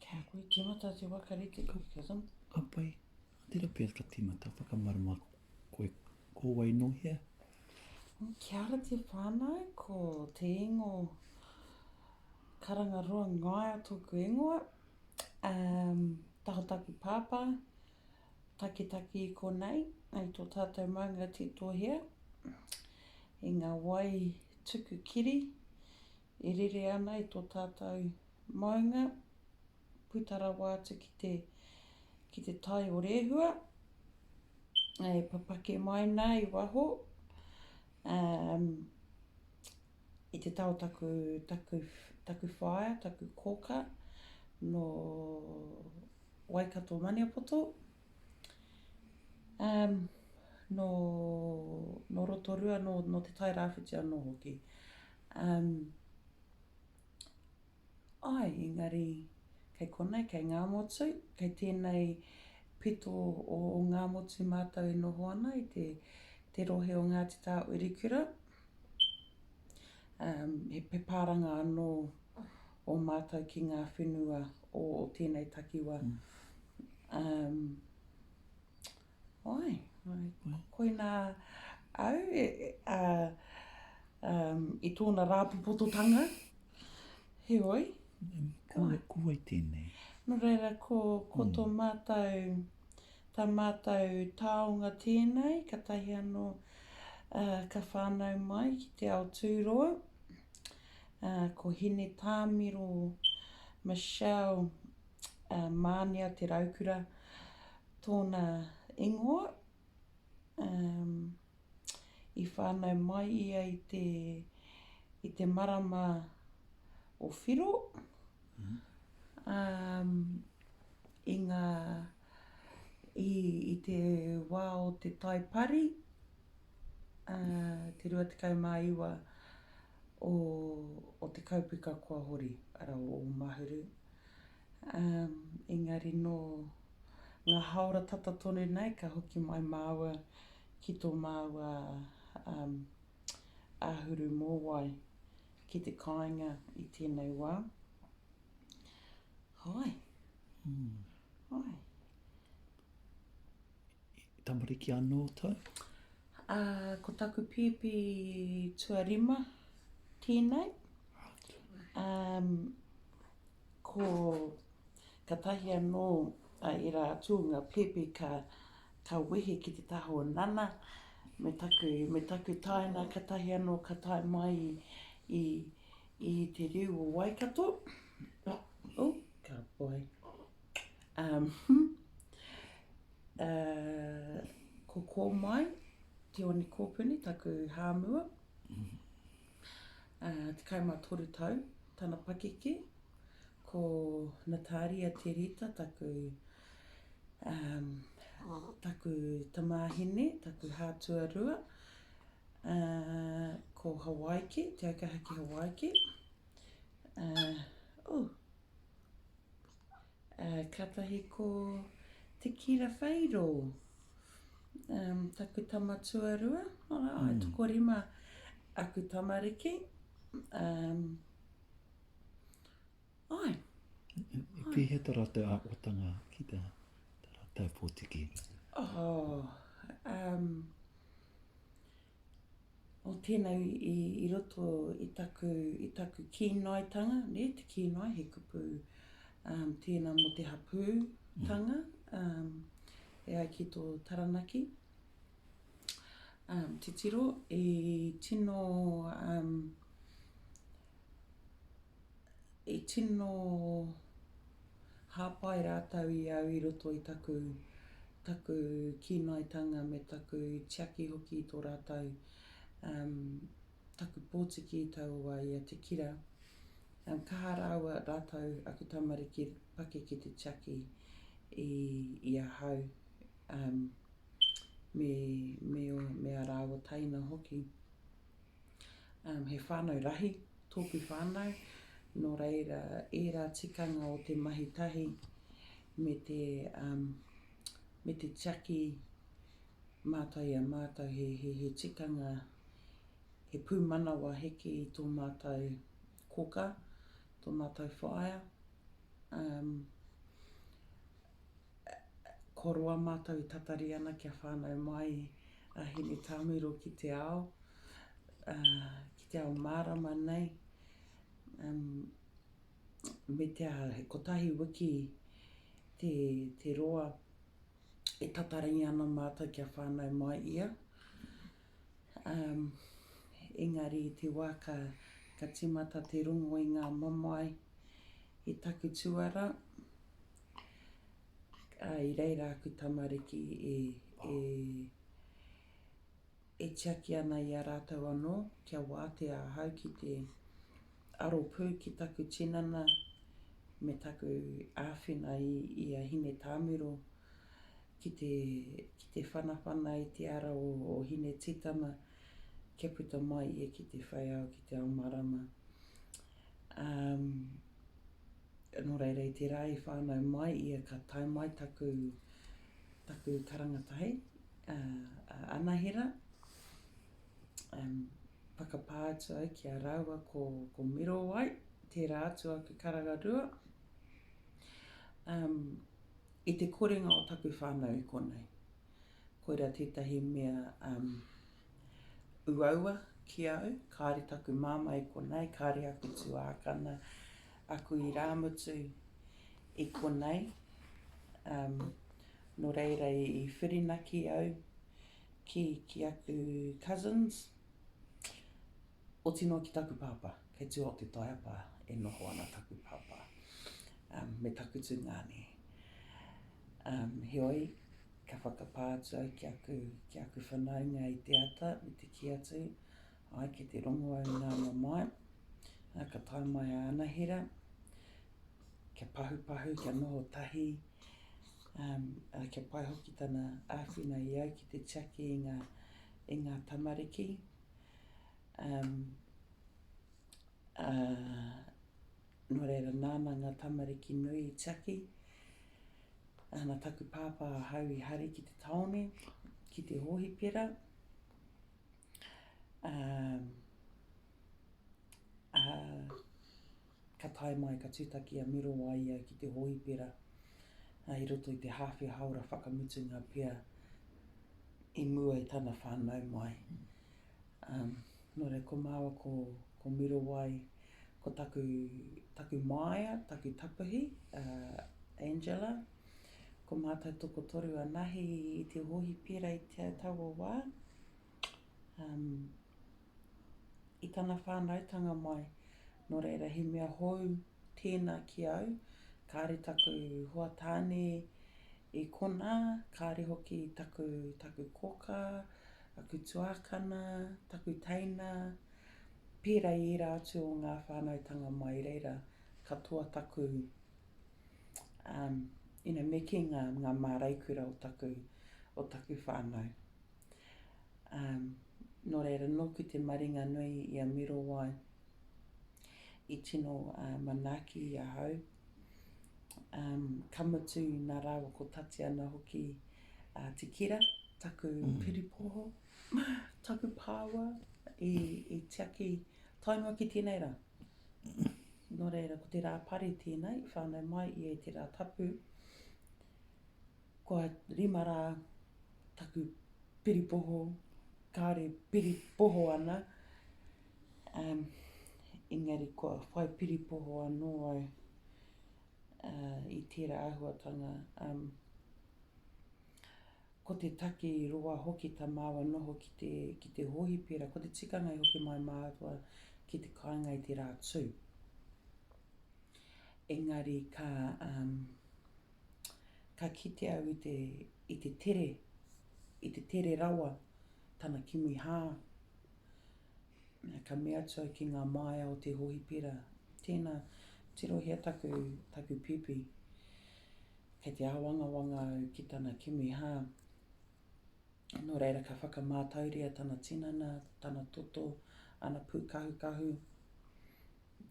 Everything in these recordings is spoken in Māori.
Kia koe timata te waka rite ki te kazam. Ka pai. Tera pia ka timata whakamarama koe ko wai no hea. Mm, kia ara te whānau, ko te ingo karanga roa ngaia tōku ingoa. um, taha taku pāpā, takitaki i konei, ai tō tātou maunga titohea, i ngā wai tuku kiri, e rere ana i tō tātou maunga, puta rawa atu ki te, ki te tai o Rehua, e papake mai nā i waho, um, I te tao taku, taku, taku whaea, taku kōkā, nō Waikato Maniapoto, umm, nō, nō Rotorua, nō, nō Te Tairāwhiti anō hoki. Umm. Āe, engari, kei konei, kei Ngāmotu, kei tēnei pito o Ngāmotu mātou e noho ana i te, te rohe o Ngāti Tāwirikura. Um, he, he pāranga anō o mātou ki ngā whenua o, o tēnei takiwa. Um, Oi, koina au i tōna rāpopototanga, heoi. Ko wai tēnei? Nō reira, ko tō mātou, tā mātou taonga tēnei, katahi anō ka whānau mai ki te ao tūroa, ko Hinetāmiro Michelle Mānia Te Raukura, Tōna ingoa, um, i whānau mai ia i te, i te marama o Whiro, mm. um, i ngā, i, i te wā o te taipari, uh, te 29 o, o te kaupeka kua hori, ara o Mahuru. Umm, engari nō ngā hāora tata tonu nei ka hoki mai māua ki tō māua, umm, āhuru mōwai ki te kāinga i tēnei wā. Hai. Hai. Tamariki anō tau? Ā, ko taku pēpi tuarima tēnei. Umm. Ko katahi anō a ērā atu o ngā pēpi ka, ka wehe ki te taha o Nana me taku, me taku tāina katahi anō ka tae mai i, i te riu o Waikato. Oh, ka pai. Um, uh, ko Kōmai, Te One Kōpuni, taku hāmua. 13 tau tana pakeke, ko Nataria Te Rita taku taku tamāhine, taku hātua rua, ko Hawaiki, Te Aukaha ki Hawaiki, oh. Ā, kātahi ko Te Kira Whairo, ā, taku tama tuarua, ā, e tokorima aku tamariki, ā, āe. I pīheta rā te āhuatanga ki tā rātou pōtiki? Ō, ā, Oh, tēnā i roto i taku, i taku kīnoitanga, nē, te kīnoi, he kupu um, tēnā mō te hapūtanga, um, e ai ki tō Taranaki. Um, titiro, i tino um, i tino hāpai rātou i au i roto i taku, taku kīnaitanga me taku tiaki hoki i tō rātou, um, taku pōtiki i taua wā i a Te Kira. Um, kaha rāua rātou, aku tamariki, paki ki te tiaki i, i ahau, um, me, me, me ā rāua taina hoki. He whānau rahi tōku whānau, nō reira ērā tikanga o te mahi tahi me te, me te tiaki mātau i a mātau he, he, he tikanga, he pūmanawa heke i tō mātau koka, tō mātau whaea. Ko roa mātou i tatari ana kia whānau mai a Hinetāmiro ki te ao, ki te ao mārama nei, me te aha, he kotahi wiki te roa e tatari ana mātou kia whānau mai ia. Engari i te wā ka tīmata te rongo i ngā mamae i taku tuarā, I reira aku tamariki e, e, e tiaki ana i a rātou anō, kia wātea ahau ki te aro pū ki taku tinana me taku āwhina i, i a Hine Tāmiro ki te, ki te whanawhana i te ara o, o Hine Tītama kia puta mai ia ki te whaiao, ki te ao marama. Um, Nō reira, i te rā i whānau mai ia ka tae mai taku, taku karanga tahi, a, a Anahera, um, whakapā atu au ki a rāua ko, ko Mirowai, tērā atu aku karanga rua, um, i te korenga o taku whānau i konei. Koira tētahi mea, um, Uaua ki au, kāore taku māmā i konā, i kāore aku tuākana, aku irāmutu i konei, um, nō reira i whirinaki au ki, ki aku cousins. Oti noa ki taku pāpā, kei tua o te taiapa e noho ana taku pāpā me taku tungāne. Heoi, ka whakapā atu au ki aku, ki aku whanaunga i te ata me te kī atu, ai kei te rongo au nā mamae, ka tae mai a Anahera, kia pahupahu, kia noho tahi, um, kia pai hoki tana āwhina i au ki te tiaki i ngā, i ngā tamariki, Um, a, nō reira, nāna ngā tamariki nui i tiaki. Nā taku pāpā ahau i hari ki te tāone, ki te hōhipera. Um, a, Ka tae mai ka tūtaki a Miro a ia ki te hōipera i roto i te hāwhe hāora whakamutunga pea i mua i tana whānau mai. Nō reira, ko māua ko, ko Miro Wai, ko taku, taku māia, taku tapuhi, a Angela, ko mātou tokotoru anahe i te hōipera i te taua wā. i tana whānautanga mai, nō reira he mea hou tēnā ki au, kāore taku hoa tāne i konā, kāore hoki taku, taku kōkā, aku tuākana, taku teina, pērā i ērā atu o ngā whānautanga mai reira, katoa taku, you know, me kī ngā, ngā māreikura o taku, o taku whānau. Ā, nō reira, nōki te maringa nui i a Mirowai, i tino manaaki i ahau, ā, ka mutu nā rāua ko Tatiana hoki, ā, Te Kira, taku piripoho, taku pāua, i, i tiaki tae noa ki tēnei rā. Nō reira, ko te rā pari tēnei, i whānau mai ia i te rā tapu. Kua rima rā taku piripoho, kāore piripoho ana, um, engari kua whai piripoho anō au uh, i tērā āhuatanga. Um, ko te take i roa hoki tā māua noho ki te, ki te hōhipera, ko te tikanga i hoki mai māua ki te kāinga i te rā tū. Engari ka, um, Ka kite au i te, i te tere, i te tere rawa tana kimi hā. Ka mea atu au ki ngā māia o te hohipera, tēnā, tirohia taku, taku pipi. Kei te āwangawanga au ki tana kimi hā. Nō reira ka whakamātauria tana tinana, tana toto, ana pūkahukahu.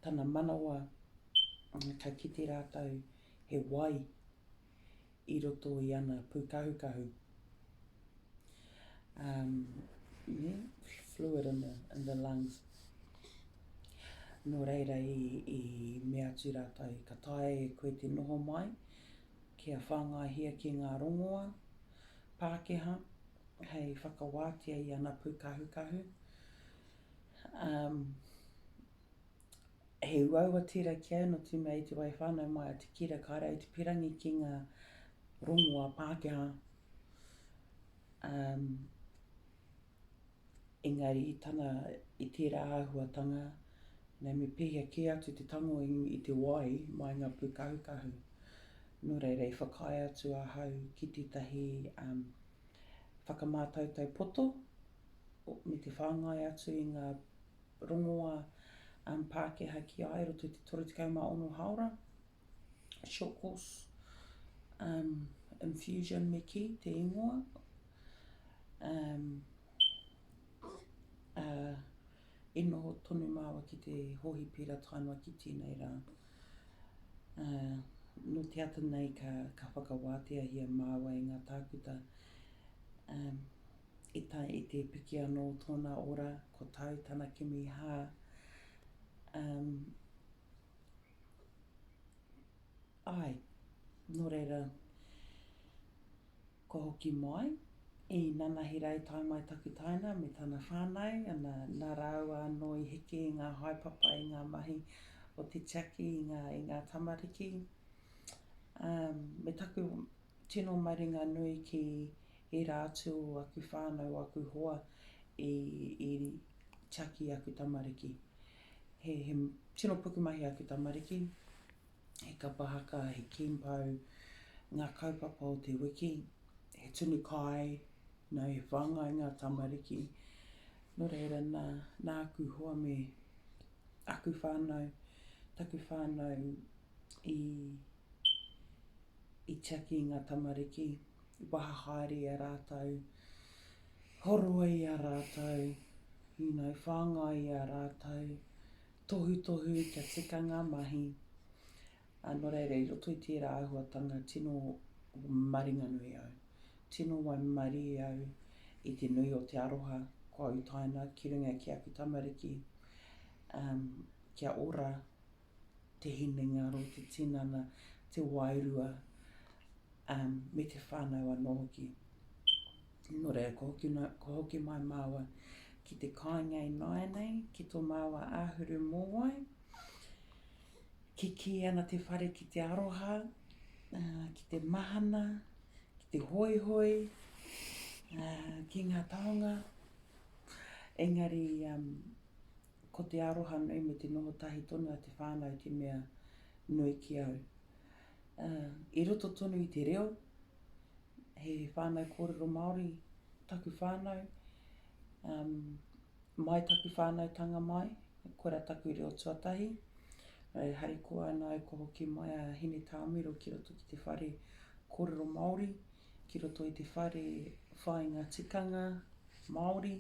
tana manawa ka kite rātou he wai i roto i ana pūkahukahu, um, nē, fluid in the, in the lungs. Nō reira i, i mea atu rātou, ka taea e koe te noho mai, kia whāngaihia ki ngā rongoa Pākehā hei whakawātea i ana pūkahukahu, Um, he uaua tira ki au no tu mea i te wai whanau mai a te kira ka rau te pirangi ki nga rongo a Pākehā. Um, engari i tana, i tērā āhuatanga, nei me pēhea kē atu te tango i, i te wai mai ngā pūkahukahu. Nō reira, i whakaae atu ahau ki tētahi um, whakamātautau poto, me te whāngai atu i ngā rongoā Pākehā ki a i roto i te 36 hāora, short course, infusion me kī, te ingoa, i noho tonu māua ki te hōhipīra tae noa ki tēnei rā. Nō te ata nei ka whakawāteahia māua e ngā tākuta I tae i te piki anō tōna ora, ko tāu tana kimi hā, umm, āe, nō reira, kua hoki mai, īnanahi rā i tae mai taku taina me tana whānau, ana, nā rāua anō i heke i ngā haepapa, i ngā mahi o te tiaki, i ngā, i ngā tamariki, umm, me taku tino maringanui ki. ērā atu o aku whānau, o aku hoa i tiaki i aku tamariki. He tino pukumahi aku tamariki, he kapa haka, he kīmpau, ngā kaupapa o te wiki, he tunu kai, nō he whāngai ngā tamariki. Nō reira, nā, nā aku hoa me aku whānau, taku whānau i, i tiaki i ngā tamariki. I waha haere i a rātou, horoa i a rātou, hīnau whāngai i a rātou, tohutohu kia tika ngā mahi, ā, nō reira, i roto i tērā āhuatanga tino maringanui au, tino waimarie au i te nui o te aroha kua utaina ki runga ki aku tamariki, ā, kia ora te hinengaro, te tinana, te wairua, ā, me te whānau anō hoki. Nō reira, ko hoki, ko hoki mai māua ki te kāinga i nāianei, ki tō māua āhuru mōwai, kikī ana te whare ki te aroha, ā, ki te mahana, ki te hoihoi, ā, ki ngā taonga, engari, ā, Ko te aroha nui me te noho tahi tonu a te whānau te mea nui ki au. I roto tonu i te reo, he whānau kōrero Māori taku whānau, mai taku whānautanga mai, koira taku reo tuatahi. E harikoa ana au kua hoki mai a Hinetāmiro ki roto ki te whare kōrero Māori, ki roto i te whare whāinga tikanga Māori.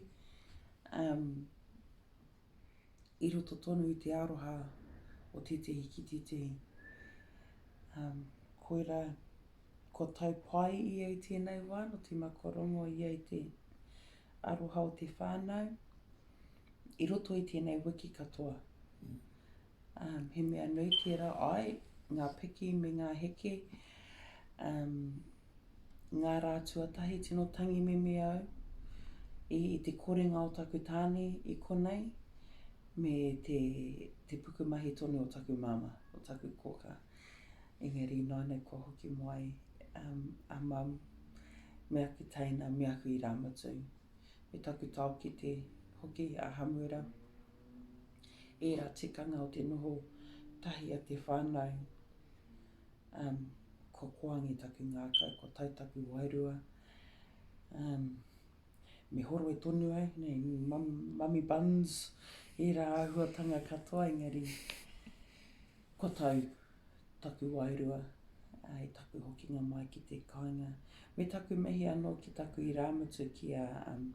i roto tonu i te aroha o tētehi ki tētehi. Um, koira, kua tau pai ia i tēnei wā, no te makarongo ia i te aroha o te whānau, i roto i tēnei wiki katoa. Um, he mea nui tērā ai, ngā piki me ngā heke, um, Ngā rā tuatahi tino tangi mimi au i te korenga o taku tāne i konei me te, te pukumahi tonu o taku māmā, o taku kōkā. Engari ināianei kua hoki mo ai um, a mum me aku teina, me aku irāmutu, me taku taokete hoki a Hamuera. Ērā tikanga o te noho tahi a te whānau Um, ko Koangi taku ngākau, ko Tai taku wairua. Um, me horoe tonu ai, nei, mum, mummy buns, ērā āhuatanga katoa, engari, ko tau taku wairua, ai taku hokinga mai ki te kāinga. Me taku mihi anō ki taku irāmutu ki a, um,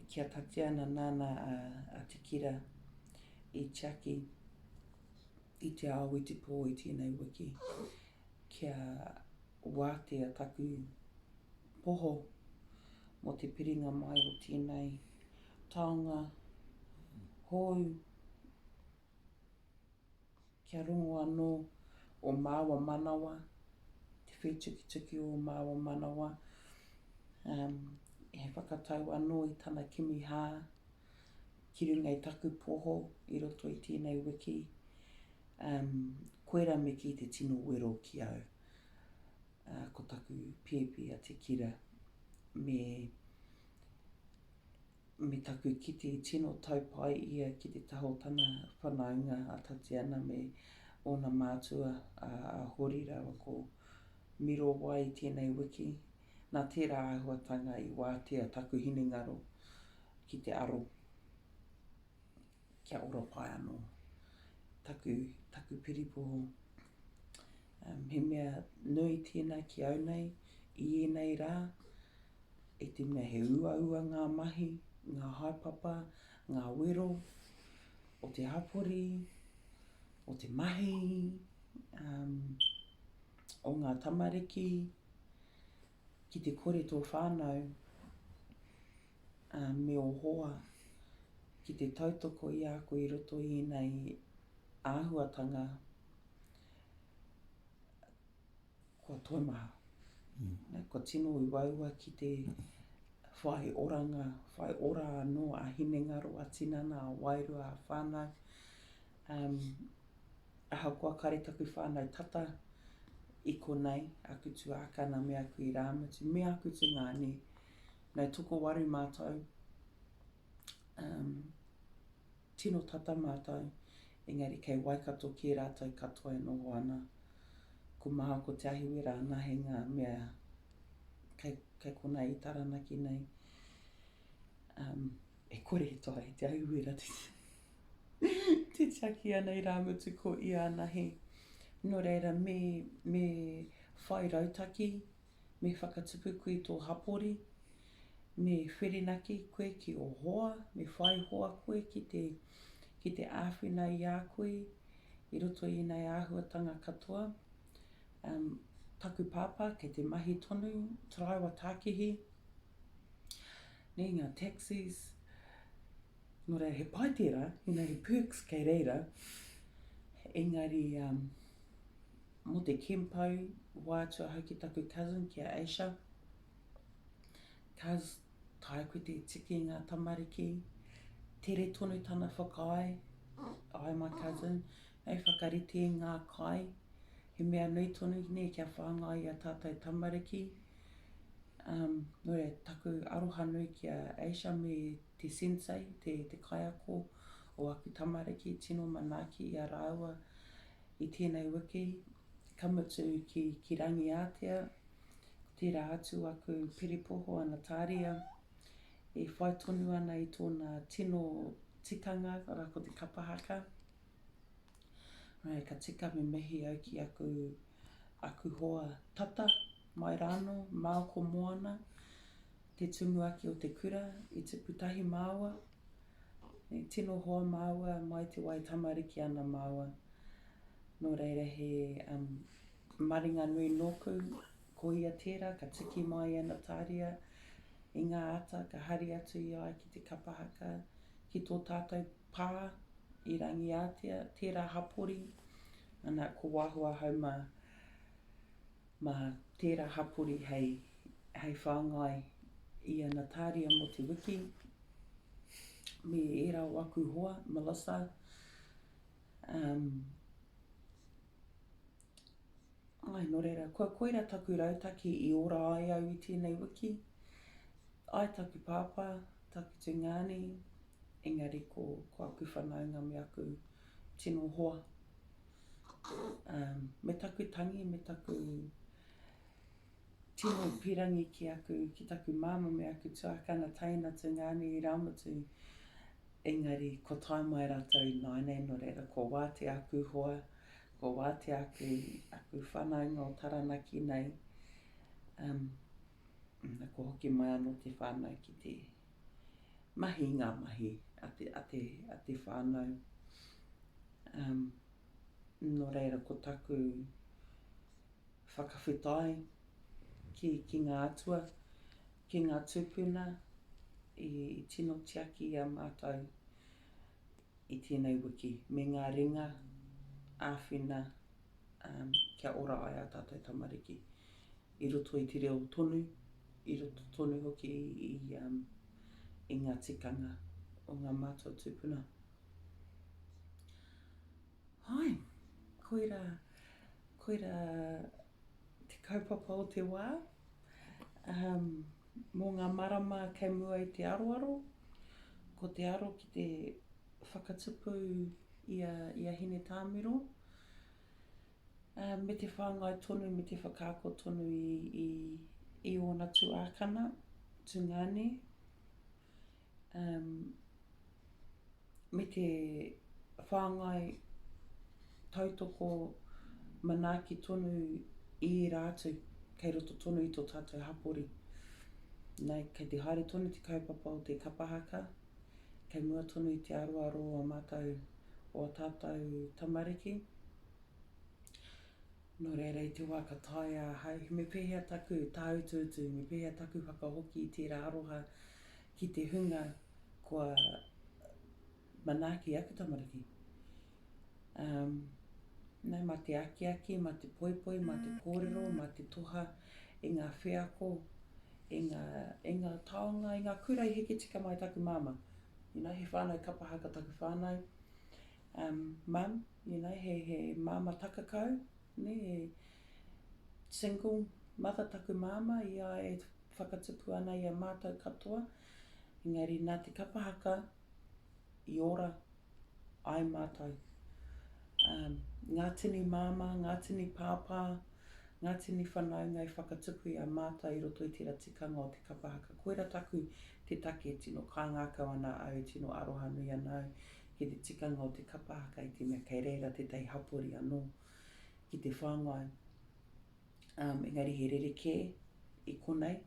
ki a Tatiana nāna a, a Tikira i tiaki. i te ao, i te pō, i tēnei wiki, kia wātea taku poho mō te piringa mai o tēnei taonga hou, kia rongo anō o māua manawa, te whētukituki o māua manawa, he whakatau anō i tana kimi hā, ki runga i taku poho i roto i tēnei wiki, um, koira me kī te tino wero ki au. Uh, ko taku pēpi a Te Kira, me, me taku kite i tino taupai ia ki te taha o tana whanaunga a Tatiana me ōna mātua a, a Hori rawa ko Mirowai tēnei wiki. Nā tērā āhuatanga i wātea taku hinengaro ki te aro kia ora pai anō taku, taku piripoho. Um, he mea nui tēnā ki au nei, i ēnei rā, i te mea he uaua ngā mahi, ngā haepapa, ngā wero o te hapori, o te mahi, um, o ngā tamariki, ki te kore tō whānau uh, me o hoa, ki te tautoko i a koe i roto i ēnei āhuatanga, kua toimaha. Mm. Kua tino uaua ki te whai oranga, whai ora anō a hinengaro, a tinana, a wairua, a whānau, Um, ahakoa kare taku whanau tata i konei, aku tuākana me aku irāmutu, me aku tungāne, no tokowaru mātou, um, tino tata mātou, engari kei Waikato kē rātou katoa e noho ana. Ko Maha, ko Te Ahiwera ana hei ngā mea kei, kei konei i Taranaki nei. Um, e kore e toa e Te Ahiwera te te tiaki ana irāmutu ko iānahi. Nō reira, me, me whai rautaki, me whakatupu kui tō hapori, me wherenaki koe ki o hoa, me whai hoa koe ki te, ki te āwhina i a koe, i roto i ēnei āhuatanga katoa. Um, taku pāpā, kei te mahi tonu, taraiwa tākihi, nei ngā taxis, Nō reira, he pai tērā, you know, he perks kei reira, engari, um, mō te kempau, wā atu ahau ki taku cousin, ki a Asia, cuz, tae koe te tiki i ngā tamariki, tere tonu tana whakaae, ai my cousin, hei whakarite i ngā kai, he mea nui tonu nei kia whāngai i a tātou tamariki, um, nō reira, taku aroha nui ki a Asia me Te sensei, te, te kaiako o aku tamariki, tino manaaki i a rāua i tēnei wiki, ka mutu ki, ki Rangiātea, ko tērā atu aku piripoho ana tāria, e whai tonu ana i tōna tino tikanga, arā, ko te kapa haka. Ka tika me mihi au ki aku. aku hoa tata mai rānō, māu ko Moana, te tumuaki o te kura, i tipu tahi māua, me tino hoa māua mai te wai tamariki ana māua. Nō reira he maringa nui nōku, ko ia tērā ka tiki mai a Natāria i ngā ata ka hari atu i a ia ki te kapa haka, ki tō tātou pā i Rangiātea, tērā hapori, Ana, ko Wahoa Hauma mā tērā hapori hei, hei whāngai i ana tāria mō te wiki, me ērā o aku hoa, Melissa, um, ai, nō reira, kua koira taku rautaki i ora ai au i tēnei wiki, ai taku pāpā, taku tungāne, engari ko, ko aku whanaunga me aku Tino hoa. Umm me taku tangi me taku tino pirangi ki aku ki taku mama me aku tuakana taina tu ngani i raumutu engari ko tae mai ratou i nainei no reira ko wati aku hoa ko wati aku aku whanaunga o taranaki nei umm na ko hoki mai ano te whanau ki te mahi ngā mahi a te a te a te whānau um nō reira ko taku whakawhetai ki ki ngā atua ki ngā tūpuna i i tino tiaki i a mātou i tēnei wiki me ngā ringa āwhina um kia ora ai a tātou tamariki i roto i te reo tonu, i roto tonu hoki i ngā tikanga o ngā mātua tūpuna. Hai, koira, koira te kaupapa o te wā, um, mō ngā marama kei mua i te aroaro, ko te aro ki te whakatupu i a, i a Hine Tāmiro, Me te whāngai tonu, me te whakaako tonu i ōna tuākana, tungāne, me te whāngai tautoko manaaki tonu i ērā atu kei roto tonu i tō tātou hapori. Kei te haere tonu te kaupapa o te kapa haka, kei mua tonu i te aroaro o ā mātou, o ā tātou tamariki, Nō reira, i te wā ka taea ahau, me pēhea taku tāutuutu, me pēhea taku whakahoki i tērā aroha ki te hunga kua manaaki aku tamariki. Um, nā, mā te akiaki, mā te poipoi, mm. mā te mm, kōrero, mm. mā te toha i ngā wheako, i ngā, i ngā taonga, i ngā kura i heke tika mai taku māma. You know, he whānau kapahaka taku whānau. Um, mum, you know, he, he māma takakau, nē, he single mother taku māma i a e whakatupu ana i a mātou katoa, engari nā te kapa haka i ora ai mātou. Um, ngā tini māma, ngā tini pāpā, ngā tini whanaunga i whakatupu i a mātou i roto i tērā tikanga o te kapa haka. Koira taku te take, tino kāngākau ana au, tino arohanui ana au Ki te tikanga o te kapa haka i te mea kei reira tētahi hapori anō ki te whāngai, um, engari he rerekē i konei.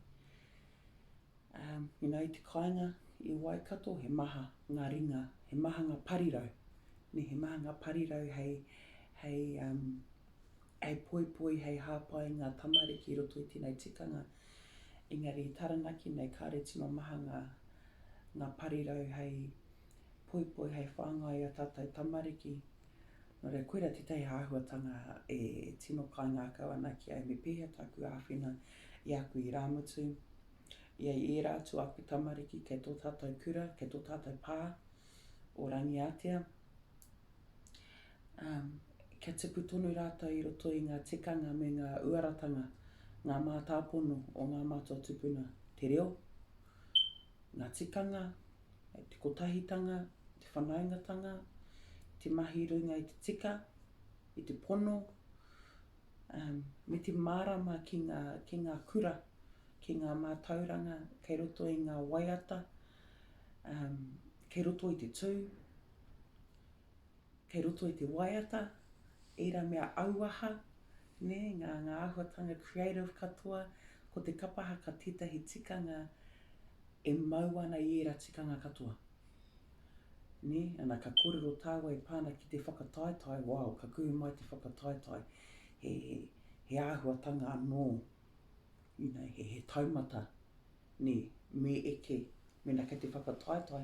Um, you know, i te kāinga i Waikato, he maha ngā ringa, he maha ngā parirau, ne, he maha ngā parirau hei, hei, um, hei poipoi, hei hāpai ngā tamariki i roto i tēnei tikanga. Engari i Taranaki nei, kāre tino maha ngā, ngā parirau hei, poipoi hei whāngai i a tātou tamariki. Nō reira, koirā tētahi āhuatanga e tino kāngākau ana ki au me pēhea tāku āwhina i aku irāmutu, i a ērā atu aku tamariki kei tō tātou kura, kei tō tātou pā o Rangiātea. Um, kia tipu tonu rātou i roto i ngā tikanga me ngā uaratanga, ngā mātāpono o ngā mātua tupuna, te reo, ngā tikanga, te kotahitanga, te whanaungatanga, te mahi runga i te tika, i te pono, um, me te mārama ki ngā, ki ngā kura, ki ngā mātauranga kei roto i ngā waiata, um, kei roto i te tū. kei roto i te waiata, ērā mea auaha, nē, ngā, ngā āhuatanga creative katoa, ko te kapa haka tētahi tikanga e mau ana i ērā tikanga katoa. Nē, ana ka kōrero tāua e pā ana ki te whakataetae, wao, ka kuhu mai te whakataetae, he, he āhuatanga anō, you know, he, he taumata. Nē, me eke, mēnā kei te whakataetae,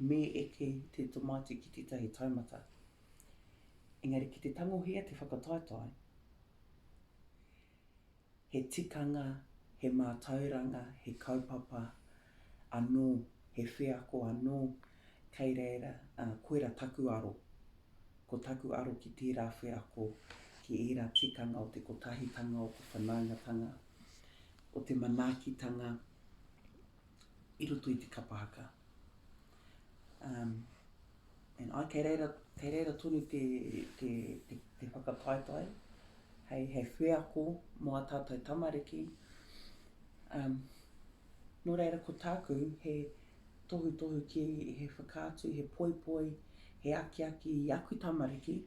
me eke te tamaiti ki tētahi taumata. Engari ki te tangohia te whakataetae, he tikanga, he mātauranga, he kaupapa anō, he wheako anō, kei reira, ā, koirā taku aro. Ko taku aro ki tērā wheako, ki ērā tikanga o te kotahitanga, o te whanaungatanga. o te manaakitanga i roto i te kapa haka. Um, and I, kei reira, kei reira tonu te, te, te, te whakataetae, hei, hei wheako mō a tātou tamariki. Um, nō reira ko tāku, he tohutohu ki, he whakaatu, he poipoi, he akiaki i aku tamariki,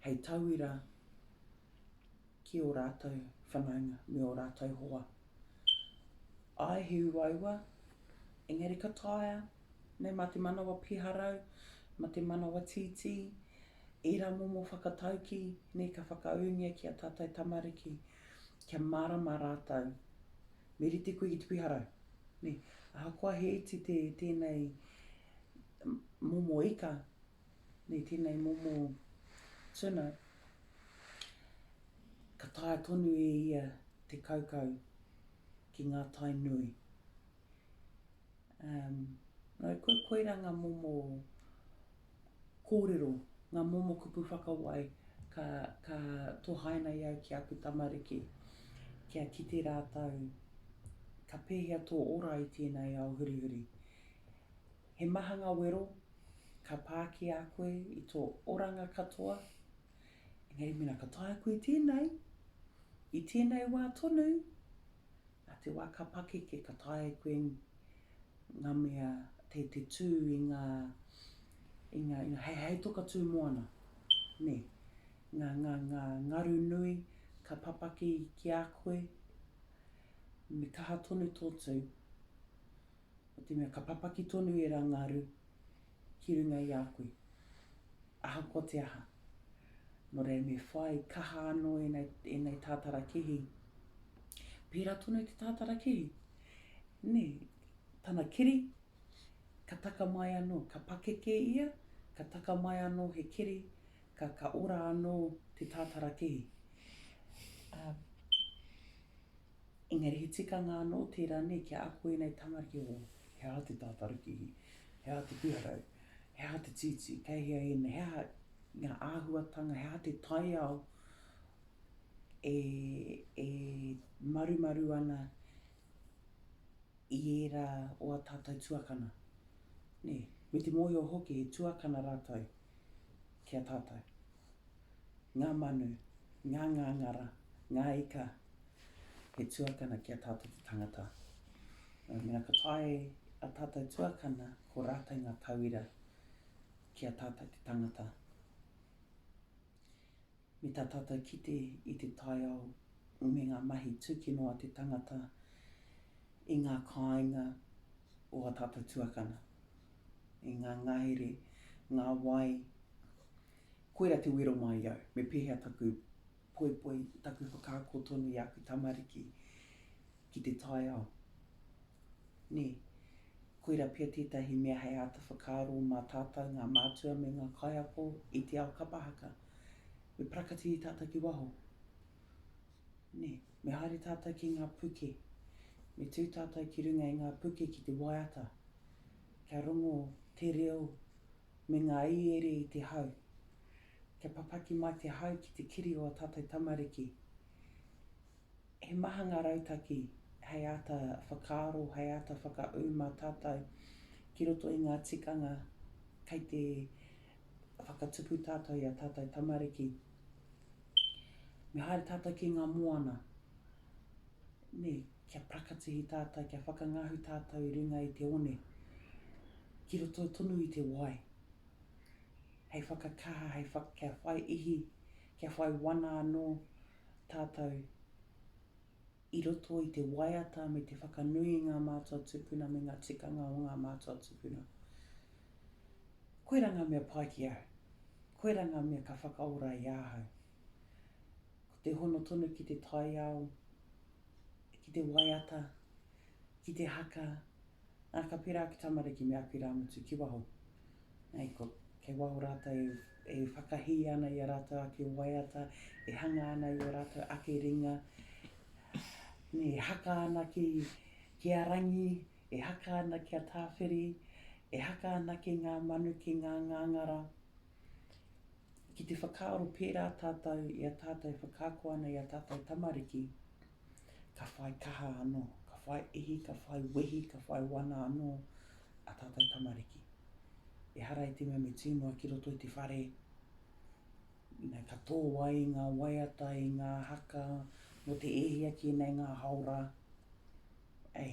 hei tauira ki ō rātou whanaunga me ō rātou hoa. Āe, he uaua, engari ka taea, nē, mā te manawa piharau, mā te manawa tītī, ērā momo whakataukī, nē, ka whakaūngia ki ā tātou tamariki, kia mārama rātou, me rite koe ki te piharau, nē, ahakoa he iti tēnei momo ika, nei tēnei momo tuna, ka taea tonu e ia te kaukau ki ngā tai nui. Um, no, ko, koira ngā momo kōrero, ngā momo kupu whakawai ka, ka tohaina i au ki aku tamariki, kia kite rātou ka pēhea tō ora i tēnei ao hurihuri. He maha nga wero ka pa ki a koe i to oranga katoa, engari mena ka taea koe tenei, i tenei wa tonu, na te wa ka pakeke ka taea koe nga mea te te tu i nga i nga i nga hei hei toka tu moana, ne. Nga nga nga ngaru nui ka papaki ki a koe, me kaha tonu to tu. o te mea ka papaki tonu ērā ngaru ki runga i a koe, ahakoa te aha. Nō reira me whai kaha anō ēnei tātara kēhi. Pērā tonu i te tātara kēhi, nē, tana keri, ka taka mai anō, ka pakeke ia, ka taka mai anō he keri, ka, ka ora anō te tātara kēhi. Ā. Engari he tikanga anō tērā nei kia ako ēnei tamariki o he aha te tātarakihi, he aha te piharau, he aha te tītī, kei hea ēnei, he aha ngā āhuatanga, he aha te taiao e marumaru ana i ērā o ā tātou tuakana, nē, me te mōhio hoki he tuakana rātou ki a tātou. ngā manu, ngā ngāngara, ngā ika, he tuakana ki a tātou te tangata. Nō reira, ka taea e a tātou tuakana, ko rātou ngā tauira ki a tātou te tangata. Me tā tātou kite i te taiao me ngā mahi tūkino a te tangata i ngā kāinga o a tātou tuakana, i ngā ngahere, ngā wai, Koira te wero mai au, me pēhea taku poipoi, taku whakaako tonu i aku tamariki ki te taiao. Nē, koira pea tētahi mea hei āta whakaaro mā tātou, ngā mātua me ngā kaiako i te ao kapa haka. Me parakatihi tātou ki waho. Nē, me haere tātou ki ngā puke. Me tū tātou ki runga i ngā puke ki te waiata. Kia rongo te reo me ngā iere i te hau. Kia papaki mai te hau ki te kiri o ā tātou tamariki. He maha ngā rautaki hei āta whakaaro, hei āta whakaū mā tātou ki roto i ngā tikanga kei te whakatupu tātou i ā tātou tamariki. Me haere tātou ki ngā moana, nē. Kia prakatihi tātou, kia whakangahu tātou i runga i te one, ki roto tonu i te wai, hei whakakaha, hei whak, kia whai ihi, kia whai wana anō tātou i roto i te waiata me te whakanui i ngā mātua tupuna me ngā tikanga o ngā mātua tupuna. Koirā ngā mea pai ki au. Koirā ngā mea ka whakaora i ahau. Ko te hono tonu ki te taiao ki te waiata, ki te haka, ā, ka pērā ake tamariki me aku irāmutu ki waho. Hei, ko, kei waho rātou e, e whakahī ana i a rātou ake waiata, e hanga ana i ō rātou ake ringa, nē, e haka ana ki, ki a Rangi, e haka ana ki a Tāwhiri, e haka ana ki ngā manu, ki ngā ngāngara, Ki te whakaaro pērā tātou i a tātou e whakaako ana i a tātou tamariki, ka whai kaha anō, ka whai ihi, ka whai wehi, ka whai wana anō a tātou tamariki. Ehara i te mea me tū noa ki roto i te whare, ina ka tō ai i ngā waiata, i ngā haka, mō te e hia ki nei ngā hao rā, Ē,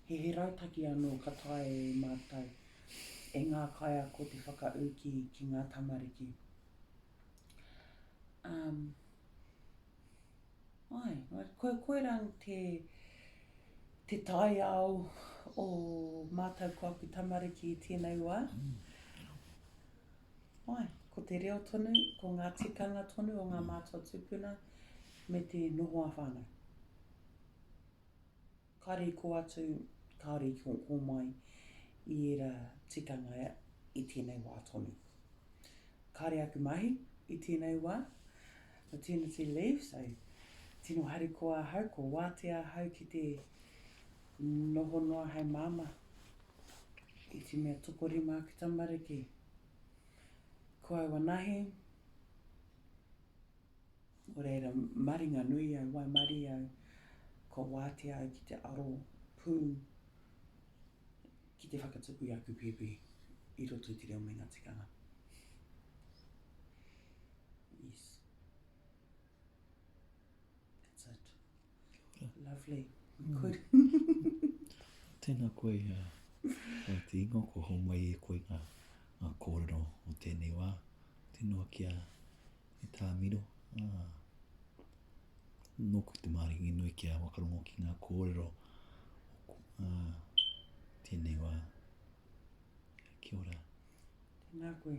he he rautaki anō ka taea e mātou, e ngā kaiako te whakaū ki, ki ngā tamariki. Um, ai, ko, koirā te, te taiao o mātou ko aku tamariki i tēnei wā. Mm. Ai, ko te reo tonu, ko ngā tikanga tonu o ngā mātua tūpuna me te noho a whānau. Ka rīko atu, ka rīko mai i ērā tikanga i tēnei wā tonu. Kāre aku mahi i tēnei wā, maternity leave, so tino harikoa ahau, kua wātea ahau ki te noho noa hei māmā. I te mea tokorima aku tamariki, ko au anahe, Nō reira, maringa nui au, waimarie au, kua wātea au ki te aro pū ki te whakatupu i aku pēpi i roto i te reo me ngā tikanga. Yes. That's it. Kia ora. Lovely. We could. Tēnā koe, uh, te ingo, kua homai e koe ngā, ngā kōrero o tēnei wā. Tēnā kia, E tā Miro, ā, nōku te maringi nui kia wakarongo ki ngā kōrero o ā, tēnei wā. Kia ora. Tēnā koe.